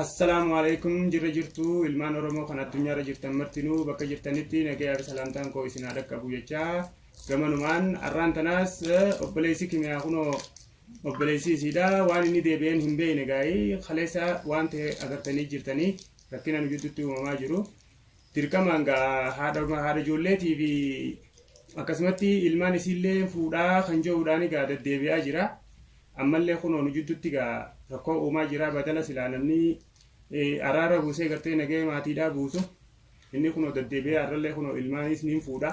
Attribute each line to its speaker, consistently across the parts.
Speaker 1: Assalaamu alaikum jirra jirtuu ilmaan oromoo kan addunyaarra jirtan martinuu bakka jirtanitti nagayaa fi salaamtaan koo isin haa dhaqqabu jechaa gamanumaan arraan tanaas obboleessi kimiyaa kunoo obboleessi isiidha waan inni deebi'een hin beekne gaa'ii kaleessa waan ta'e agartanii jirtanii rakkina nu gidduutti uumamaa jiru dirqamaan gaa haadha haadha ijoolleetii fi akkasumatti ilmaan isiillee fuudhaa kan jiruudhaan egaa deddeebi'aa jira. Ammallee kunoo nu jidduutti egaa rakkoo uumaa jira badala silaa namni eh, araara buusee gartee nagahee maatiidhaa buusu. Inni kunoo deddeebi'ee har'allee kunoo ilmaanis niin fuudha.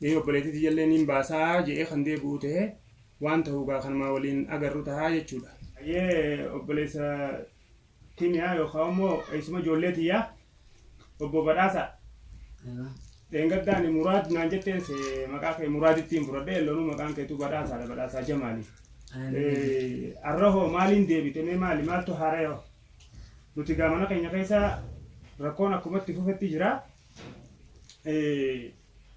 Speaker 1: Eh, Obboleettii tiyyallee niin baasaa je'ee kan deebi'u ta'e waan ta'u egaa kanumaa waliin agarru tahaa jechuudha. Ayyee obboleessa Kimiyaa yookaan immoo eessuma ijoollee tiyyaa obbo Badhaasaa. Dheengaddaa ani Muraad naan jetteen se maqaa kee Muraadittiin fudhadhe elloonuu maqaan keetu Badhaasaadha Badhaasaa Jamaali. Eh, Arra hoo maaliin deebite mee maali maaltu haara'e hoo? Nuti gaa mana keenya keessa rakkoon akkumatti fufetti jira. Eh,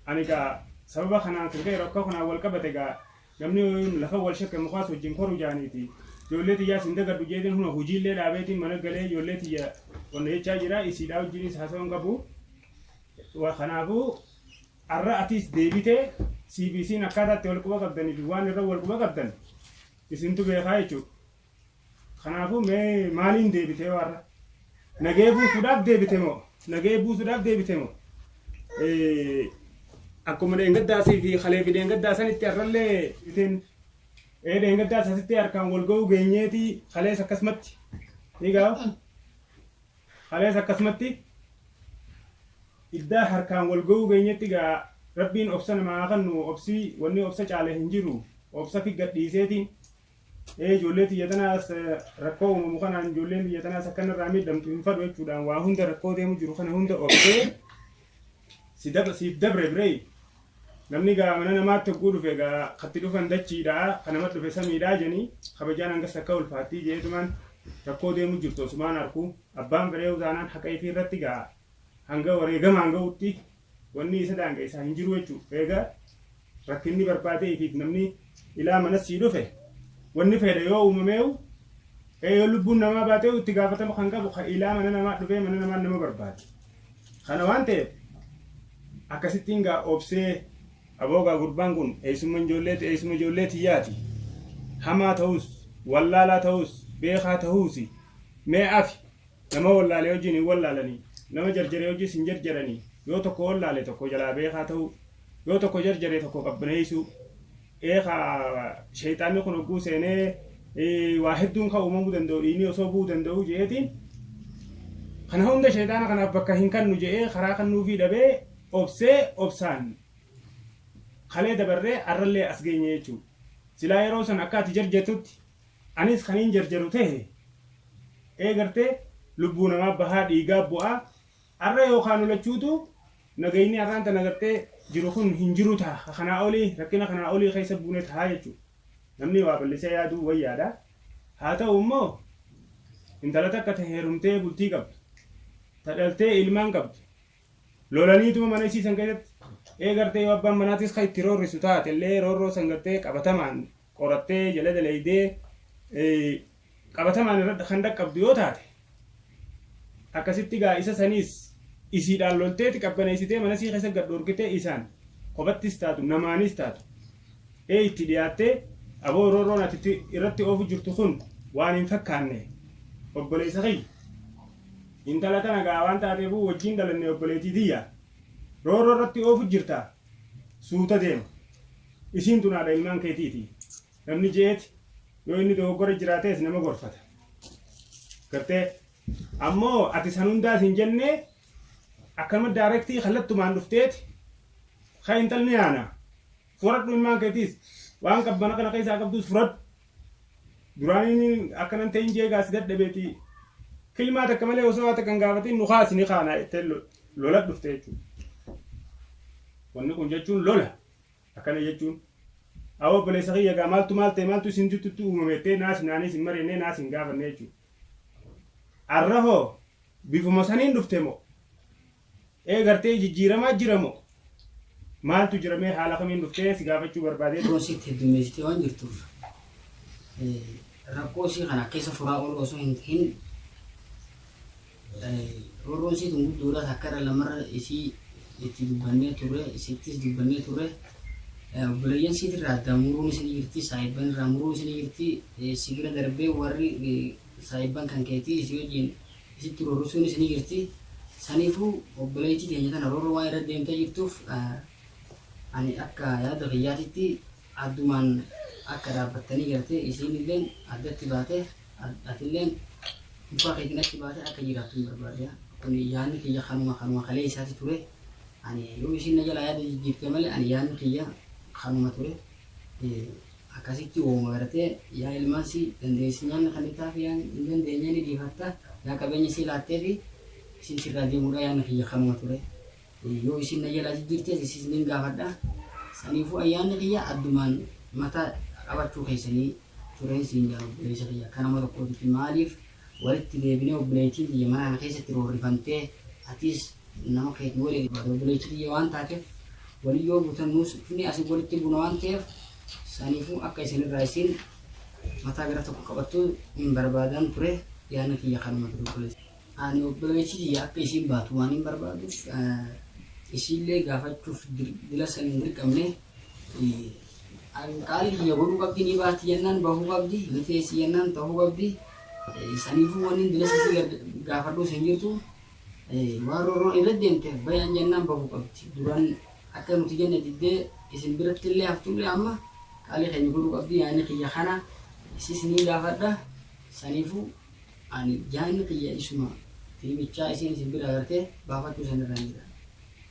Speaker 1: Ani gaa sababa kanaan kan ka'e rakkoo kanaan wal qabate gaa Namni lafa wal shakke mukaas wajjin koru jaaniiti. Ijoollee tiyyaas hin dagadhu jeetiin huna hojiillee dhaabeetiin mana galee ijoollee tiyya wanna jechaa jira isiidhaa wajjinis haasawaa hin qabu. Kanaafuu har'a atiis deebitee CBC'n akkaataa itti wal quba qabdanii fi waan irra wal quba qabdan isintu beekaa jechuudha. Kanaafuu mee maaliin deebitee warra? Nagee buusuudhaaf deebite moo? Nagee buusuudhaaf deebite moo? Akkuma dheengaddaasii fi kalee fi dheengaddaa sanitti har'allee isin ee dheengaddaa sasitti harkaan wal ga'uu geenyeeti kalees akkasumatti ni ga'a. Kalees akkasumatti iddaa harkaan wal ga'uu geenyetti ga'a. Rabbiin obsa namaa haa kennu obsi wanni obsa caale hin jiru obsa fi gadhiiseetiin. ee ijoollee tiyya tanaas rakkoo uumamu kanaan ijoolleen tiyya tanaas akka narraa miidhamtu hin fadhu jechuudhaan waa hunda rakkoo deemu jiru kana hunda obsee si dab- siif dabre biree namni gaa mana namaatti hogguu dhufe gaa katti dhufan dachiidha kanama dhufe samiidha jeni kabajaan hangas akka ulfaattii jeetumaan rakkoo deemu jirtu osumaan arku abbaan biree utaanaan haqa ifii irratti gaa hanga wareegamaan ga'utti Wanni isa daangeessaa hin jiru jechu. Eega rakkinni barbaadee ifiif namni ilaa manas sii dhufe wanni fedhe yoo uumameeyu ee yoo lubbuun namaa baateeyu itti gaafatama kan qabu ka ilaa mana namaa dhufee mana namaa nama barbaade. Kana waan ta'eef akkasittiin gaa obsee aboo gaa gurbaan kun eessumma ijoolleeti eessuma ijoollee tiyyaati. Hamaa ta'us wallaalaa ta'us beekaa ta'uusi mee afi Nama wallaale wajjiin hin wallaalani, nama jarjare wajjiis hin jarjarani, yoo tokko wallaale tokko jalaa beekaa ta'uu, yoo tokko jarjare tokko qabbaneessuu. Eekaa sheyxaanni kun hogguu seenee waa hedduun ka uumamuu danda'u dhiigni osoo bu'uu danda'uu je'eetiin kana hunda sheyxaana kanaaf bakka hin kannu je'ee karaa kannuufii dhabee obsee obsaan kalee dabarree arrallee as geenye jechuudha. Silaa yeroo san akka ati jarjartutti Anis kaniin jarjaru tahe ee gartee lubbuu namaa bahaa dhiigaa bu'aa arra yookaa nu lachuutuu nagayni arraan tana gartee jiru kun hin jiru taha ka kanaa olii rakkina kanaa olii keessa buune tahaa jechuu namni waa ballisee yaaduu wayyaadha haa ta'uu immoo intala takka ta heerumtee bultii qabdu ta dhaltee ilmaan qabdu lolaniituma mana isii san keessatti ee gartee yoo abbaan manaatis ka itti roorrisu taate illee roorroo san gartee qabatamaan qorattee jala dalaydee qabatamaan irra kan dhaqqabdu yoo taate akkasitti gaa isa saniis isiidhaan lolteeti qabbaneessitee mana sii keessa gad dhorkitee isaan kophattis taatu namaanis taatu ee itti dhiyaattee aboo roorroon ati itti- irratti oofu jirtu kun waan hin fakkaanne obboleessa kiyya intala tana gaa waan taateefuu wajjin dhalanne obboleettii tiyya roorroo irratti oofu jirta suuta deema. Isiin tun haadha ilmaan keetiiti. Namni je'eet yoo inni dogoggora jiraatees nama gorfata. Gartee ammoo ati san hundaa sin jennee akkanuma daarektii kallattumaan dhufteeti ka intalni haana furadhu ilmaan keetiis waan qabbana kana keessaa qabduus furadhu Duraanii akkanan ta'in jeegaa si dadhabeeti kilmaa takka malee osoo haa takka hin gaafatin nu kaasi ni kaanaa jettee lola dhufte jechuudha. Wanni kun jechuun lola akkana jechuun awwa obboleessa kiyya gaa maaltu maal ta'e maaltu isin tuttutti uumame jettee naas naaniis hin mari'annee naas hin gaafanne jechuudha. Arra hoo bifuma saniin dhufte moo? Ee gartee jijjiiramaa jira moo? Maaltu jira mee haala kamiin dhuftee si gaafachuu barbaadeen. Piroosiitti heddummeessitee
Speaker 2: waan jirtuuf rakkoo isii kana keessa furaa ooluu osoo hin tahin roorroon isii tun guddoodha takka irra lamarra isii itti dubbannee turre isittis dubbannee turre obboleeyyan isiit irraa addaan muruun isin jirti saahibban irraa muruun isin jirti si bira darbee warri saahibban kan keetii isii wajjin isitti rorrisuun isinii jirti saniifuu obboleeytii teenya tana rorro waan irra deemtee jirtuuf ani akka yaada kiyyaatitti addumaan akka dhaabbattanii gartee isiinilleen addatti baatee atilleen mukaa keetiin achi baatee akka jiraattuun barbaada kuni yaanni kiyya kanuma kanuma kaleeysaati ture ani yoo isiin na jalaa yaada jijjiirte malee ani yaanni kiyya kanuma ture Akkasitti wooma garte yaa ilmaan sii dandeessi nyaanna kannitaaf yaa hin dandeenye ni dhiifatta yaa qabeenya sii laatteefi isiin sirraa deemuudha yaanni kiyya kanuma ture yoo isiin na jalaa jijjirtees isiis nin gaafadha saniifuu an yaanni kiyya addumaan mataa qabachuu keessanii tureen siin jedha obboleessa kiyya akka nama tokkootitti maaliif walitti deebinee obboleeytiin tiyya mana kana keessatti roorrifamtee atiis nama keetii waliin ibaada obboleeytii tiyya waan taateef waliin yoo buutan nuus dhufnee asiin walitti buuna waan ta'eef saniifuu akka isin irraa isiin mataa gara tokko qabattuu hin barbaadaan ture yaadni kiyya kanuma ture obboleessa. Ani obboleeytii tiyya akka isiin baatu waan hin barbaaduuf isiillee gaafachuuf dila san hin dirqamne. Qaalli tiyya godhuu qabdi, ni baati jennaan bahuu qabdi, ni teessi jennaan ta'uu qabdi. Saniifuu wanni bilasa isii gaafadhuus hin jirtu. Waan roorroon irra deemteef bayan jennaan bahuu qabdi. Duran akka nuti jenne diddee isin biratti illee haftullee amma qaalli keenya godhuu qabdi yaanni kiyya kana isiis ni gaafadha. Saniifuu ani yaanni kiyya isuma fiimichaa isiin isin bira agartee baafachuu isin irraan jira.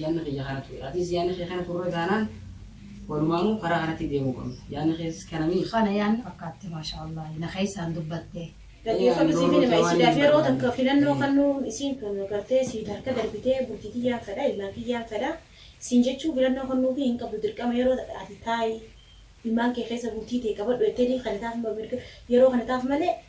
Speaker 2: Yaanni kiyya kana ture. Atis yaanni kee kana turre taanaan walumaanuu karaa kanatti deemuu qabna. Yaanni kees kana mii? Kana yaanni fakkaatti
Speaker 3: maashaa Allaah na keessaan dubbatte. Dhaggeeffadhu siif
Speaker 4: hin hima isiidhaaf yeroo takka filannoo kannuun isiin tun gartee siit harka darbitee bultii tiyyaan fedha ilmaan kiyyaan fedha siin jechuu filannoo kannuufii hin qabdu dirqama yeroo takka ati taa'i ilmaan kee keessa bultii tee qabadhu jettee ni kanitaaf mirga yeroo kanitaaf malee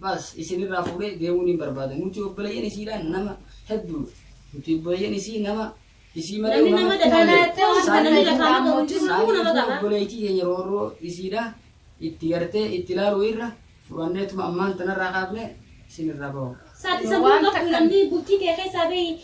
Speaker 2: Bas isin irraa fuudhee deemuu niin barbaada nuti obboleeyyan isiidhaan nama hedduudha nuti obboleeyyan isii nama isii malee Namni nama namatti dafaa malee
Speaker 4: kana waan kana ni dafaa maqaa hojii kun hunduma saaniitu qaba. obboleeytii
Speaker 2: keenya roorroo isiidha itti gartee itti ilaaluu irra fudhanneetuma ammaan tanarraa kaafne isin irraa bahu. Saati Yoo sammuu waan
Speaker 4: qabdu takka- namni bultii tee keessaa bahi